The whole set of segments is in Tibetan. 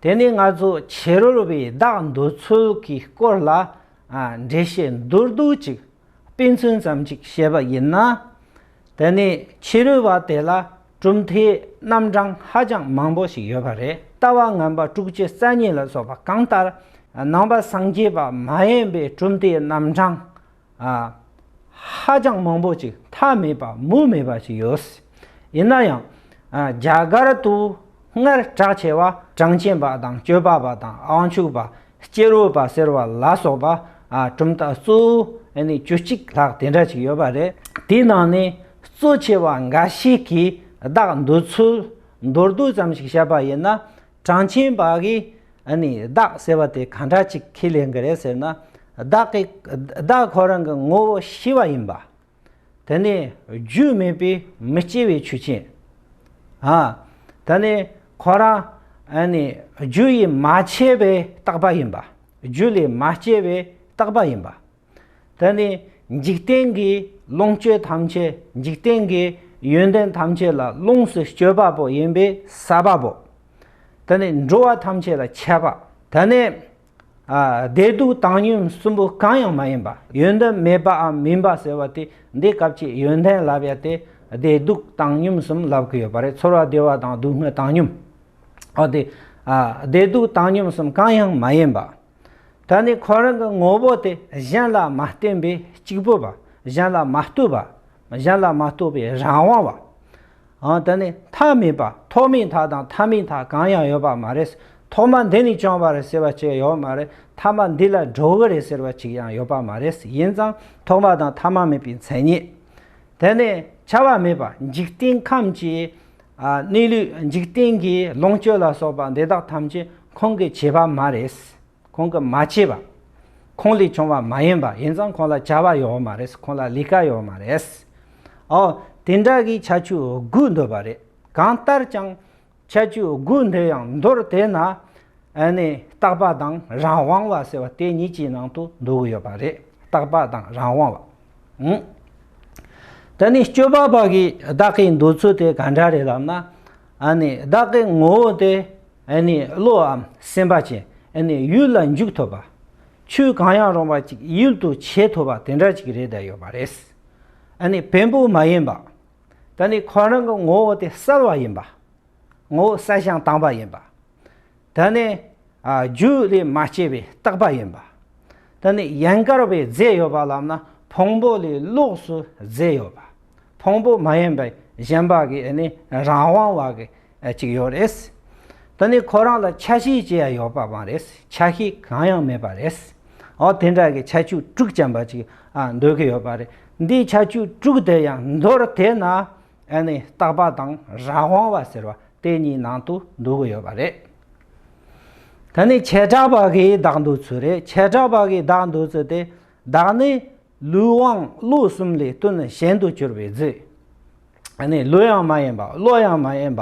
དེ་ནི་ང་ཚོ་ཕྱི་རོལ་བའི་བདག་འདོད་ཚུལ་གྱི་སྐོར་ལ་འགྲེལ་བཤད་མདོར་བསྡུས་ཅིག་སྤེལ་ཚུལ་ཙམ་ཅིག་བཤད་པ་ཡིན་ན། དེ་ནི་ཕྱི་རོལ་བ་དེ་ལ་གྲུབ་མཐའི་རྣམ་གྲངས་ཧ་ཅང་མང་པོ་ཞིག་ཡོད་པ་རེད། ལྟ་བ་ངན་པ་དྲུག་བཅུ་རྩ་གཉིས་ལ་སོགས་པ་གང་ལྟར། ནང་པ་སངས་རྒྱས་པ་མ་ཡིན་པའི་གྲུབ་མཐའི་རྣམ་གྲངས་ཧ་ཅང་མང་པོ་ཅིག་མཐའ་མེད་པ་མུ་མེད་པ་ཞིག་ཡོད་སྲིད། ཡིན་ན་ཡང། རྒྱ་གར་དུ་སྔར་གྲགས་ཆེ་བ་གྲངས་ཅན་པ་དང་སྤྱོད་པ་པ་དང་དབང་ཕྱུག་པ་སྐྱེ་བོ་པ་ཟེར་བ་ལ་སོགས་པ་གྲུབ་མཐའ་གཙོ་བོ་བཅུ་གཅིག་ལྷག་དེ་འདྲ་ཞིག་ཡོད་པ་རེད། དེའི་ནང་ནས་གཙོ་ཆེ་བ་འགའ་ཞིག་གི་བདག་འདུལ་ཚུལ་མདོར་བསྡུས་ཙམ་ཞིག་བཤད་པ་ཡིན་ན། དྲང་ཆེན་པ་གིས་ནི་བདག་ཟེར་བ་དེ་ག་འདྲ་ཅིག་ཁས་ལེན་གྱི་རེད་ཟེར་ན། བདག་གིས་བདག་ཁོ་རང་གི་ངོ་བོ་ཤི་བ་ཡིན་པ། དེ་ནི་རྒྱུས་མེད་པའི་མི་སྐྱེ་བའི་ཆོས་ཅན། དེ་ནི་ཁོ་རང་ནི་རྒྱུ་ཡིས་མ་བྱས་པའི་རྟག་པ་ཡིན་པ། རྒྱུ་ལས་མ་སྐྱེས་པའི་རྟག་པ་ཡིན་པ། དེ་ནི་འཇིག་རྟེན་གྱི་ལོངས་སྤྱོད་ཐམས་ཅད་འཇིག་རྟེན་གྱི་ཡོན་ཏན་ཐམས་ཅད་ལ་ལོངས་སུ་སྤྱོད་པ་པོ་ཡིན་པས་ས་པ་པོ། དེ་ནི་འགྲོ་བ་ཐམས་ཅད་ལ་ཁྱད་པ་དེ་ནི། བདེ་སྡུག་བཏང་སྙོམས་གསུམ་པོ་གང་ཡང་མ་ཡིན་པ་ཡོན་ཏན་མེད་པའམ་མིན་པ་ཟེར་བ་དེ་འདི་སྐབས་ཀྱི་ཡོན་ཏན་ལབ་ཡ་དེ་བདེ་སྡུག་བཏང་སྙོམས་གསུམ་ལབ་གི་ཡོད་པ་རེད་ཚོར་བ་བདེ་བ་དང་སྡུག་བསྔལ་བཏང་སྙོམས། འོ་དེ་བདེ་སྡུག་བཏང་སྙོམས་གསུམ་གང་ཡང་མ་ཡིན་པ། ད་ནི་ཁོ་རང་གི་ངོ་བོ་དེ་གཞན་ལ་མ་བརྟེན་པའི་གཅིག་པུ་བ། གཞན་ལ་མ་ལྟོས་པ། གཞན་ལ་མ་ལྟོས་པའི་རང་དབང་བ། འང་དེ་ནི་མཐའ་མེད་པ་ཐོག་མའི་མཐའ་དང་མཐའ་མའི་མཐའ་གང་ཡང་ཡོད་པ་མ་རེད། ཐོག་མ་འདི་ནས་བྱུང་བ་རེད་ཟེར་བ་ཅིག་ཡོད་མ་རེད་མཐའ་མ་འདི་ལ་འགྲོ་གི་རེད་ཟེར་བ་ཅིག་ཡང་ཡོད་པ་མ་རེད་ཡིན་ཙང་ཐོག་མ་དང་མཐའ་མ་མེད་པའི་མཚན་ཉིད་དེ་ནི་བྱ་བ་མེད་པ་འཇིག་རྟེན་ཁམས་ཀྱི། གནས་ལུགས་འཇིག་རྟེན་གྱི་ལོངས་སྤྱོད་ལ་སོགས་པ་འདི་དག་ཐམས་ཅད་ཁོང་གིས་བྱས་པ་མ་རེད། ཁོང་གིས་མ་བྱས་པ། ཁོང་ལས་བྱུང་བ་མ་ཡིན་པ་ཡིན་ཙང་ཁོང་ལ་བྱ་བ་ཡོད་མ་རེད་ཁོང་ལ་ལས་ཀ་ཡོད་མ་རེད། ཨོ། དེ་འདྲ་གི་ཆ་ཆུ་དགུ་འདོད་པ་རེད། གང་ལྟར་ཀྱང། ཆ་ཆུ་དགུ་འདོད་ཡང་མདོར་དེད་ན། ནས་རྟག་པ་དང་རང་དབང་བ་ཟེར་བ་དེ་གཉིས་ཀྱི་ནང་དུ་འདུ་གི་ཡོད་པ་རེད་རྟག་པ་དང་རང་དབང་བ། དེ་ནི་སྤྱོད་པ་པ་གིས་བདག་གི་འདོད་ཚུལ་དེ་ག་འདྲ་རེད་ལབ་ན། བདག་གི་ངོ་བོ་དེ་བློའམ་སེམས་པ་ཅན་ཡུལ་ལ་འཇུག་ཐུབ་པ། ཆོས་གང་ཡང་རུང་བ་ཅིག་ཡུལ་དུ་བྱེད་ཐུབ་པ་དེ་འདྲ་ཅིག་རེད་བསྡད་ཡོད་པ་རེད། བེམ་པོ་མ་ཡིན་པ། ཁོ་རང་གི་ངོ་བོ་དེ་གསལ་བ་ཡིན་པ། ངོ་བོ་གསལ་ཞིང་དྭངས་པ་ཡིན་པ། ད་ནི་རྒྱུ་ལས་མ་སྐྱེས་པའི་རྟག་པ་ཡིན་པ། ད་ནི་ཡན་གར་བའི་རྫས་ཡོད་པ་ལམ་ན་ཕུང་པོ་ལས་ལོགས་སུ་རྫས་ཡོད་པ། ཕུང་པོ་མ་ཡིན་པའི་གཞན་པ་གི་ནི་རང་དབང་བ་གི་ཅིག་ཡོད་རེད། ད་ནི་ཁོ་རང་ལ་ཆ་ཤས་ཅི་ཡང་ཡོད་པ་མ་རེད་ཆ་ཤས་གང་ཡང་མེད་པ་རེད། འོ་དེ་འདྲ་གི་ཆ་བཅུ་དྲུག་ཅན་པ་ཅིག་འདོད་ཀི་ཡོད་པ་རེད་འདིའི་ཆ་བཅུ་དྲུག་དེ་ཡང་མདོར་དེད་ན། ཨེ་ནས་རྟག་པ་དང་རང་དབང་བ་ཟེར་བ་དེ་གཉིས་ནང་དུ་འདུ་གི་ཡོད་པ་རེད། ད་ནི་བྱེ་བྲག་པ་གིས་བདག་འདུ་ཚུལ་རེད་བྱེ་བྲག་པ་གིས་བདག་འདུ་ཚུལ་དེ་བདག་ནི་ལུས་དབང་བློ་གསུམ་ལས་དོན་གཞན་དུ་གྱུར་པའི་རྫི། ཨེ་ནས་ལུས་ཡང་མ་ཡིན་པ་བློ་ཡང་མ་ཡིན་པ་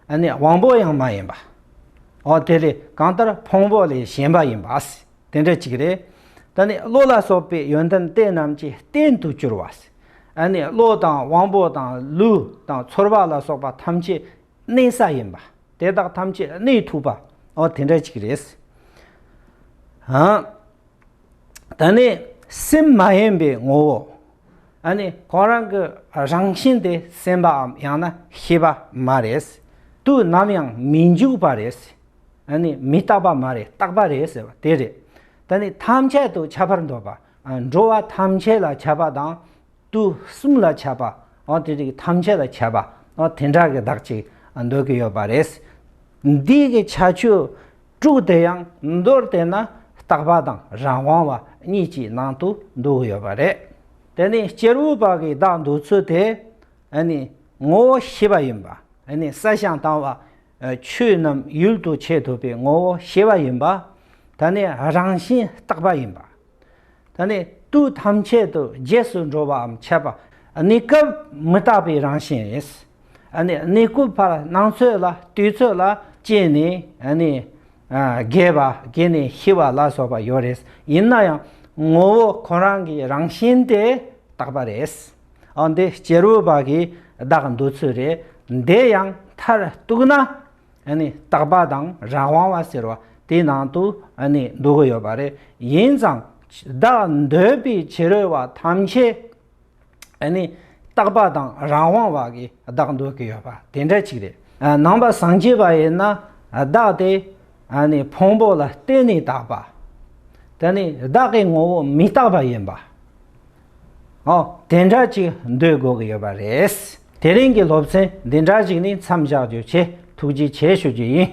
ཨེ་ནས་དབང་པོ་ཡང་མ་ཡིན་པ། འོ་དེ་ལས་གང་ལྟར་ཕུང་པོ་ལས་གཞན་པ་ཡིན་པ་དེ་འདྲ་གཅིག་རེད། ད་ནི་བློ་ལ་སོགས་པའི་ཡོན་ཏན་དེ་རྣམས་ཀྱི་རྟེན་དུ་གྱུར་བ། ཨ་ནི་བློ་དང་དབང་པོ་དང་ལུས་དང་ཚོར་བ་ལ་སོགས་པ་ཐམས་ཅད་གནས་ས་ཡིན་པ་དེ་དག་ཐམས་ཅད་གནས་ཐུབ་པའོ་དེ་འདྲ་གཅིག་རེད། ད་ནི་སེམས་མ་ཡེངས་པའི་ངོ་བོ་ཨ་ནི་གང་རང་གི་རང་བཞིན་དེ་སེམས་པའམ་ཡང་ན་ཤེས་པ་མ་རེད། དུ་ནམ་ཡང་མི་འཇུག་པ་རེད། ཨ་ནི་མི་རྟག་པ་མ་རེད་རྟག་པ་རེད་ཟེར་བ་དེ་རེད། ད་ནི་ཐམས་ཅད་དུ་ཁྱབ་པར་འདོད་པ། འགྲོ་བ་ཐམས་ཅད་ལ་ཁྱབ་པ་དང། དུས་གསུམ་ལ་ཁྱབ་པ། དེ་རིགས་ཐམས་ཅད་ལ་ཁྱབ་པ། དེ་འདྲ་གི་བདག་ཅིག་འདོད་ཀྱི་ཡོད་པ་རེད། འདི་གི་ཆ་ཆོས་དྲུག་དེ་ཡང་མདོར་བལྟས་ན་རྟག་པ་དང་རང་དབང་བ་གཉིས་ཀྱི་ནང་དུ་འདུ་གི་ཡོད་པ་རེད། དེ་ནི་སྐྱེས་བུ་དཔག་གི་བདག་འདུག་ཚུལ་དེ། ངོ་བོ་ཤེས་པ་ཡིན་པ། ས་ཞིང་དང་བ་ཆོས་རྣམས་ཡུལ་དུ་བྱེད་ཐུབ་པའི་ངོ་བོ་ཤེས་པ་ཡིན་པ། ད་ནི་རང་བཞིན་རྟག་པ་ཡིན་པ། ད་ནི་དུས་ཐམས་ཅད་དུ་རྗེས་སུ་འགྲོ་བའམ་འཆད་པ། གནས་སྐབས་མི་རྟག་པའི་རང་བཞིན་རེད། གནས་སྐབས་བར་སྣང་ཚོད་ལ་དུས་ཚོད་ལ་སྐྱེས་ནས་རྒས་པ་རྒས་ནས་ཤི་བ་ལ་སོགས་པ་ཡོད་རེད། ཡིན་ན་ཡང་ངོ་བོ་ཁོ་རང་གི་རང་བཞིན་དེ་རྟག་པ་རེད། ཨང་འདི་སྐྱེ་རུ་བ་གིས་བདག་འདོད་ཚུལ་རེད་འདི་ཡང་མཐར་གཏུགས་ན་རྟག་པ་དང་རང་དབང་བ་ཟེར་བ་དེའི་ནང་དུ་འདུ་གི་ཡོད་པ་རེད་ཡིན་ཙང་བདག་འདོད་པའི་བྱེ་རུ་བ་ཐམས་ཅད་རྟག་པ་དང་རང་དབང་བ་གིས་བདག་འདོད་ཀྱི་ཡོད་པ་དེ་འདྲ་གཅིག་རེད། ནང་པ་སངས་རྒྱས་པ་ཡིན་ན་བདག་དེ་ཕུང་པོ་ལ་བརྟེན་ནས་དག་པ་དེ་ནི་བདག་གི་ངོ་བོ་མི་རྟག་པ་ཡིན་པ། ཨོ། དེ་འདྲ་ཅིག་འདོད་དགོས་ཀྱི་ཡོད་པ་རེད། དེ་རིང་གི་སློབ་ཚན་འདི་འདྲ་ཞིག་ནི་མཚམས་བཞག་རྒྱུ་ཆེད་ཐུགས་རྗེ་ཆེ་ཞུ་རྒྱུ་ཡིན།